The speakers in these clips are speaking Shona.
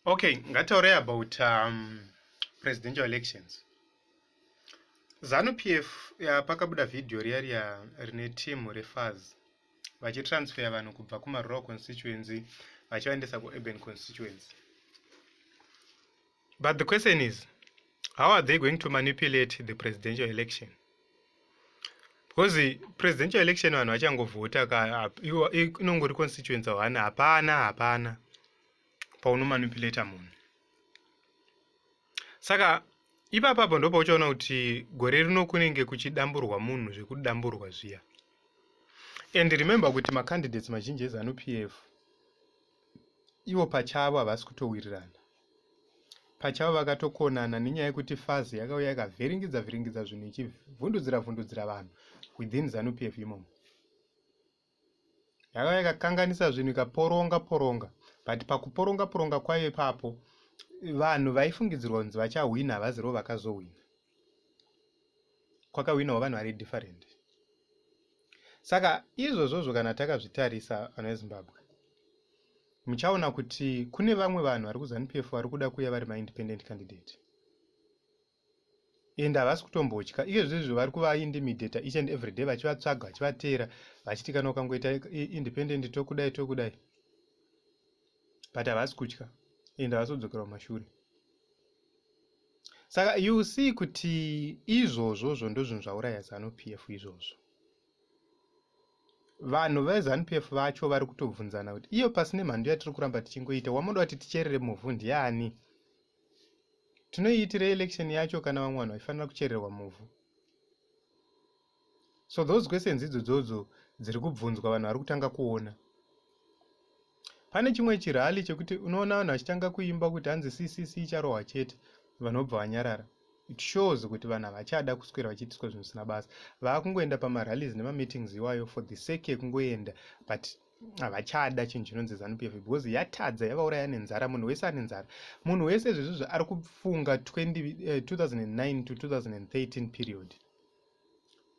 Okay, ngataure about um, presidential elections. Zanu PF ya pakabuda video riya riya rine team refaz vachitransfer vanhu kubva kumarural constituency vachivaendesa kuurban constituency. But the question is, how are they going to manipulate the presidential election? Because the presidential election vanhu vachangovhota ka inongori constituency one hapana hapana paunomanipulata munhu. Saka ipapapo ndo pauchaona kuti gore rino kunenge kuchidamburwa munhu zvekudamburwa zviya. And remember kuti macandidates mazhinji eZanu PF ivo pachavo havasi kutowirirana. pachavo vakatokonana nenyaya yekuti fazi yakauya ikavhiringidza vhiringidza zvinhu ichivhundudzira vhundudzira vanhu within zanup f imomo yakauya ikakanganisa zvinhu ikaporonga poronga but pakuporonga poronga kwayo ipapo vanhu vaifungidzirwa kunzi vachahwina havazirivo vakazohwina kwakawinawo vanhu vari different saka izvozvozvo kana takazvitarisa vana vezimbabwe muchaona kuti kune vamwe vanhu vari kuzanupf vari kuda kuuya vari maindependent candidate and havasi kutombotya iyezvezvo vari kuvaindimidata each and every day vachivatsvaga vachivateera vachiti kana ukangoita independent tokudai tokudai but havasi kutya and havasi kudzokera kumashure saka you see kuti izvozvo zvo ndozvinhu zvauraya zanu p f izvozvo vanhu vezanu p f vacho vari kutobvunzana kuti iyo pasine mhandu yatiri kuramba tichingoita wamoda kuti ticherere muvhu ndiani tinoiitire election yacho kana vamwe vanhu vaifanira kuchererwa muvhu so those questions idzodzodzo dziri kubvunzwa vanhu vari kutanga kuona pane chimwe chirali chekuti unoona vanhu vachitanga kuimba kuti hanzi ccc icharohwa chete vanhu vobva vanyarara it shows kuti vanhu havachada kuswera vachiitiswa zvinhu zvisina basa vaakungoenda pamarallies nemameetings iwayo for the sake yekungoenda but havachada chinhu chinonzi zanu p f because yatadza yavauraya nenzara munhu wese ane nzara munhu wese zvezvizvi ari kufunga 2009 eh, to 2013 period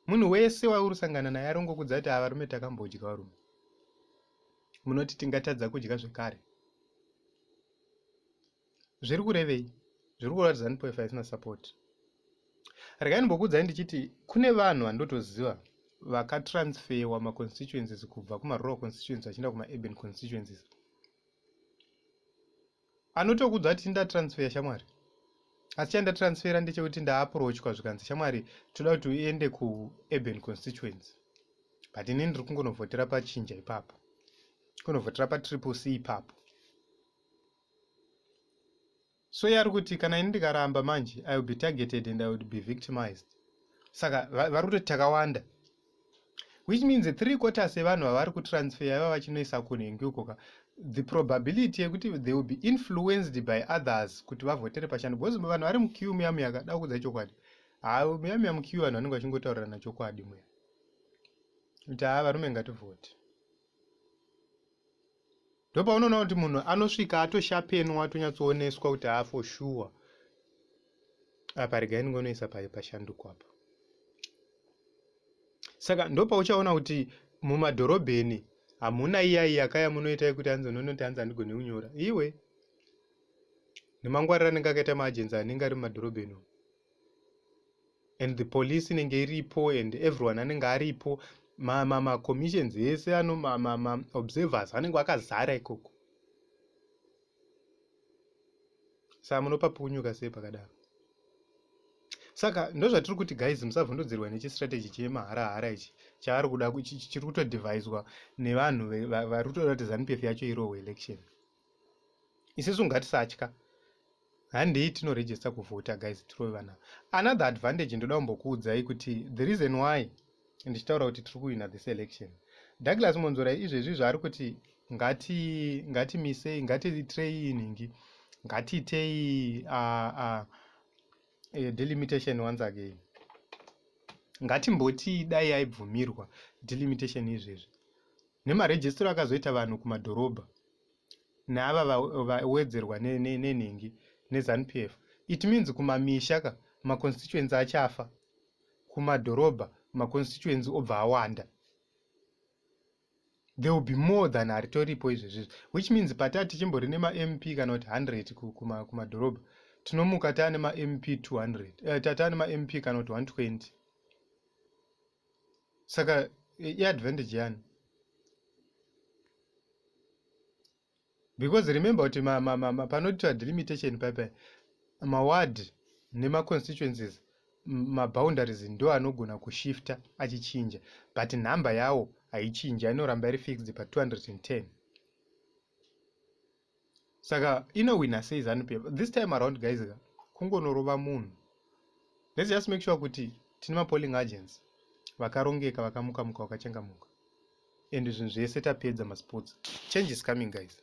munhu wese wauri kusangana naye ari kungokudza kuti ava rume takambodya varume munoti tingatadza kudya zvekare zviri kurevei zviri kureva kuti zanupof haisina support regai ndimbokuudzai ndichiti kune vanhu vandotoziva vakatransferwa maconstituencies kubva kumarural constituency vachienda kumaurban constituencies anotokudzwa ati tinda transfer shamwari asi chanda transfera ndechekuti ndaaprochwa zvikanzi shamwari toda kuti uende kuurban constituency but ini ndiri kungonovhotera pachinja ipapo kunovhotera patriple c ipapo so yari kuti kana ini ndikaramba manje i will be targeted and i would be victimized saka vari kutoti takawanda which means three quarters yevanhu vavari kutransfer yava vachinoisa kunhengi uko ka the probability yekuti they will be influenced by others kuti vavhotere pachando because vanhu vari mukiu muya muya kada kudza chokwadi haa muya muya mukiu vanhu vanenge vachingotaurirana chokwadi muya kuti haa varume ngativhote ndopaunoona kuti munhu anosvika atoshapenwa atonyatsooneswa kuti haa for sure apa regai ndingonoisa pashanduko apa saka ndopauchaona kuti mumadhorobheni hamuna iya iyakaya munoita yekuti anzi unonoti anzi andigone kunyora iwe nemangwarira anenge akaita maagenzi anenge ari mumadhorobheni umu and the police inenge iripo and everyone anenge aripo macommissions ma, ma ese ano maobservers ma, ma anenge akazara ikoko saa munopa punyuka sei pakadaro saka ndozvatiri kuti guys musavhundudzirwa nechistrategy chemahara hara ichi chaari kuda chiri kutodevhaiswa nevanhu vari kutoda kuti zanupf yacho irohwe election isisu ngatisatya handei tinoregister kuvhota guys tirove vana another advantage ndoda kumbokuudzai kuti the reason why ndichitaura kuti tiri kuwina this election douglas monzora izvezvi zvaari kuti ngati ngatimisei ngatiitirei inhingi ngatiitei uh, uh, uh, delimitation once again ngatimboti dai aibvumirwa delimitation izvezvi Nemarejisitiri akazoita vanhu kumadhorobha neava vawedzerwa nenhingi neZanu PF. It means kumamisha ka maconstituency achafa, kumadhorobha maconstituency obva awanda. There will be more than aritoripo izvezvi izvi which means pataa tichimbori nemaMP kana kuti 100 kumadhorobha tinomuka taa nemaMP 200 eh, taa nemaMP kana kuti 120 saka iadvantage yani because remember kuti panoitwa delimitation paipa maward nemaconstituencies maboundaries ndo anogona kushifta achichinja but nhamba yawo haichinji inoramba iri fixed pa 210 saka inowina sei zanu pf this time around guys ka kungonorova munhu let's just make sure kuti tine mapolling agents vakarongeka vakamuka muka vakachangamuka and zvinhu zvese tapedza masports change is coming guys